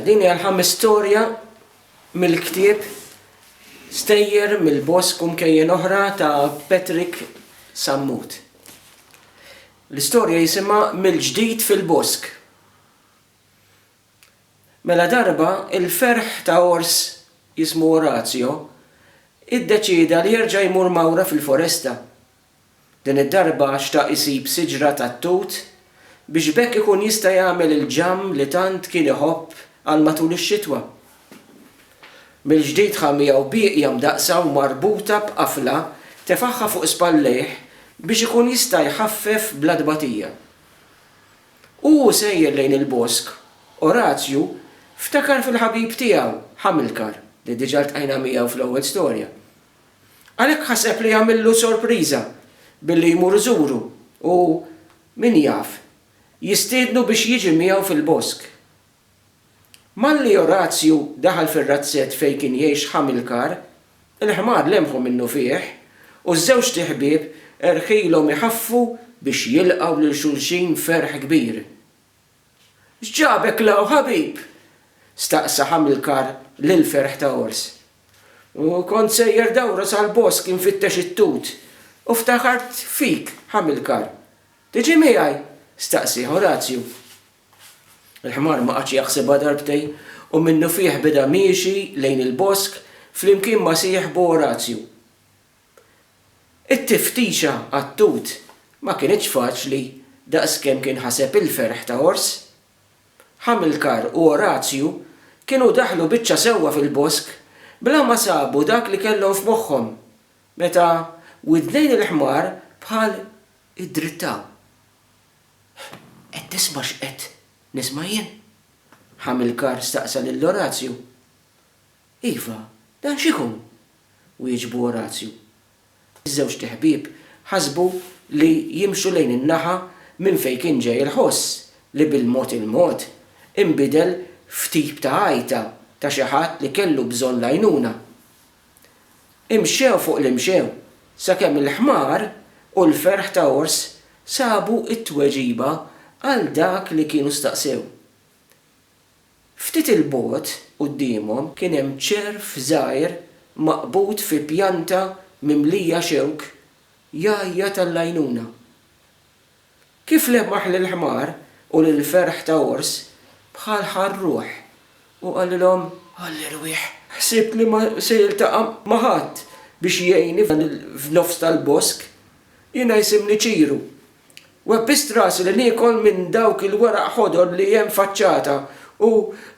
Din hija l-ħames storja mill-ktieb Stejjer mill-Bosk u Mkejjen Oħra ta' Patrick Sammut. L-istorja jisimha Mill-Ġdid fil-Bosk. Mela darba, il-ferħ ta' ors jismu Orazio iddeċieda li jerġa' jmur Mawra fil-foresta. Din id-darba xtaq isib siġra tat-tut biex b'hekk ikun jista' jagħmel il-ġamm li tant kien iħobb għal matul ix-xitwa. Mill-ġdid ħa miegħu bieqja mdaqqsa u marbuta b'qafla tefagħha fuq spallejh biex ikun jista' jħaffef bla tbatija. U hu sejjer lejn il-bosk, Orazju ftakar fil-ħabib tiegħu, Hamilcar, li diġà ltqajna miegħu fl-ewwel storja. Għalhekk ħaseb li jagħmillu sorpriża billi jmur iżuru u, min jaf, jistiednu biex jiġi miegħu fil-bosk. Malli Orazju daħal fir-razzett fejn kien jgħix Ħamilkar, il-ħmar lemħu minnufih u ż-żewġt iħbieb erħilhom iħaffu biex jilqgħu lil xulxin b'ferħ kbir. X'ġabek 'l hawn ħabib? staqsa Ħamilkar lill-ferħ ta' Ors. U kont sejjer dawra sal-bosk infittex it-tut, u ftakart fik, Ħamilkar. Tiġi miegħi? staqsieh Orazju. Il-ħmar ma qagħadx jaħsibha darbtejn u minnufih beda miexi lejn il-bosk flimkien ma' sieħbu Orazju. It-tiftixa għat-tut ma kinitx faċli daqskemm kien ħaseb il-ferħ ta' għors. Ħamilkar u Orazju kienu daħlu biċċa sewwa fil-bosk bla ma sabu dak li kellhom f'moħħhom meta widnejn il-ħmar bħal iddrittaw. Qed tisma' x'qed nisma' jien? Ħamilkar staqsa lil Orazju. Iva, dan x'ikun? wieġbu Orazju. Iż-żewġt iħbieb ħasbu li jimxu lejn in-naħa minn fejn kien ġej il-ħoss li bil-mod il-mod inbidel f'tip ta' għajta ta' xi ħadd li kellu bżonn l-għajnuna. Imxew fuq li mxew, sakemm il-ħmar u l-ferħ ta' ors sabu t-tweġiba għal dak li kienu staqsew. Ftit 'il bogħod quddiemhom kien hemm ċerv żgħir maqbud fi pjanta mimlija xewk jgħajjat għall-għajnuna. Kif lemaħ lill-ħmar u lill-ferħ ta' għors bħal ħa r-ruħ u qalilhom, Għalli rwieħ, ħsibt li ma se jiltaqa' ma' ħadd biex jgħinni f'nofs tal-bosk, jiena jisimni Ċiru, Webbist rasi li niekol minn dawk il-weraq ħodor li hemm faċċata u,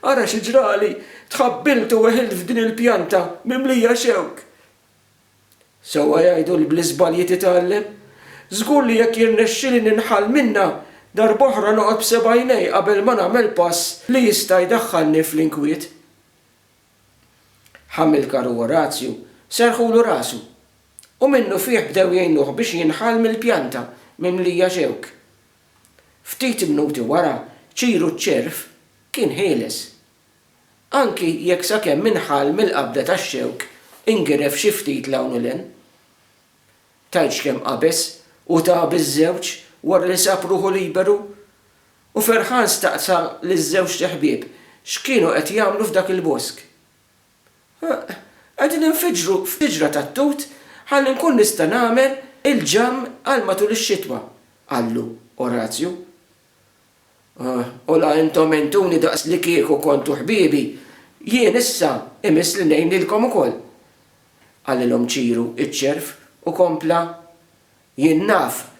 ara xi ġrali, tħabbilt u weħilt f'din il-pjanta mimlija xewk! Sewwa jgħidu li bl-iżbalji titgħallem. Żgur li jekk jirnexxili ninħall minnha, darb'oħra noqgħod b'seb'għajnejja qabel ma nagħmel pass li jista' jdaħħalni fl-inkwiet. Ħamilkar u Orazju serrħulu rasu, u minnufih bdew jgħinuh biex jinħall mill-pjanta mimlija xewk. Ftit mnuti wara, Ċiru ċ-ċerv kien ħieles. Anki jekk sakemm inħall mill-qabda tax-xewk ingiref xi ftit 'l hawn u 'l hemm. Tgħidx kemm qabeż u ta biż-żewġ wara li sab ruħu liberu? U ferħan staqsa liż-żewġt iħbieb x'kienu qed jagħmlu f'dak il-bosk. Huh, qegħdin infiġġru f'tiġra tat-tut ħalli nkun nista' nagħmel il-ġamm għal matul ix-xitwa, qallu Orazju. U la intom għentuni daqs li kieku kontu ħbiebi, jien issa imiss li ngħinilkom ukoll. Qalilhom Ċiru iċ-ċerv u kompla, Jien naf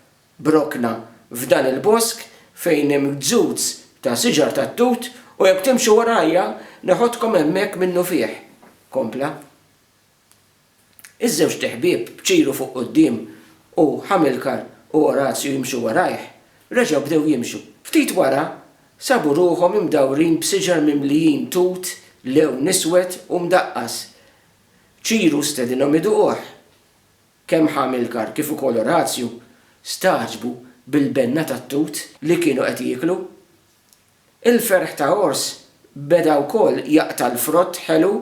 b'rokna f'dan il-bosk fejn hemm gzuz ta' siġar tat-tut u jekk timxu warajja neħodkom hemmhekk minnufih, kompla. Iż-żewġt iħbieb b'ċiru fuq quddiem u Hamilcar u Orazio jimxu warajh, reġgħu bdew jimxu. Ftit wara, sabu ruħhom imdawrin b'siġar mimlijin tut lewn iswed u mdaqqas. Ċiru stedinhom iduquh. Kemm Hamilcar kif ukoll Orazio stagħġbu bil-benna tat-tut li kienu qed jieklu. Il-ferħ ta' għors beda wkoll jaqta' l-frott ħelu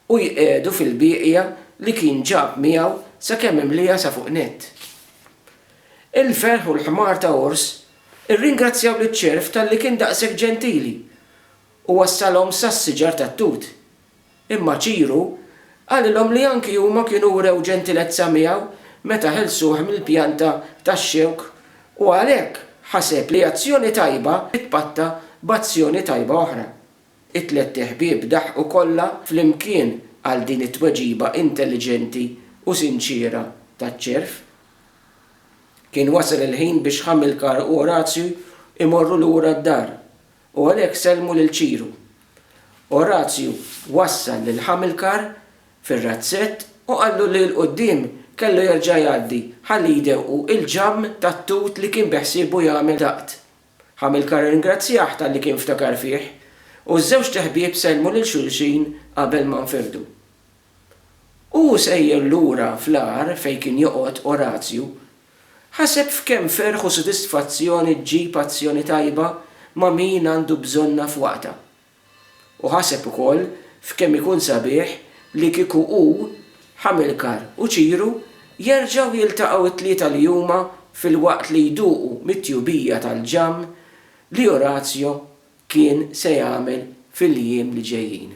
u jqiegħdu fil-bieqja li kien ġab miegħu sakemm imlieha sa fuq nett. Il-ferħ u l-ħmar ta' għors irringrazzjaw liċ-ċerv talli kien daqshekk ġentili u wassalhom sas-siġar tat-tut. Imma Ċiru qalilhom li anki huma kienu wrew ġentilezza miegħu meta ħelsuh mill-pjanta tax-xewk u għalhekk ħaseb li azzjoni tajba titpatta b'azzjoni tajba oħra. It-tlett iħbieb daħqu kollha flimkien għal din it-tweġiba intelliġenti u sinċiera taċ-ċerv. Kien wasal il-ħin biex Ħamilkar u Orazju jmorru lura d-dar. U għalhekk sellmu lil Ċiru. Orazju wassal lil Ħamilkar fir-razzett u qallu li 'l quddiem kellu jerġa' jgħaddi ħalli jdewqu l-ġamm tat-tut li kien beħsiebu jagħmel daqt. Ħamilkar irringrazzjah talli kien ftakar fih, u ż-żewġt iħbieb sellmu lil xulxin qabel ma nfirdu. Hu sejjer lura fl-għar fejn kien joqgħod Orazju, ħaseb f'kemm ferħ u sodisfazzjoni ġġib azzjoni tajba ma' min għandu bżonnha f'waqtha. U ħaseb ukoll f'kemm ikun sabiħ li kieku hu, Ħamilkar u Ċiru jerġgħu jiltaqgħu t-tlieta li huma filwaqt li jduqu mit-tjubija tal-ġamm li Orazju kien se jagħmel fil-jiem li ġejjin.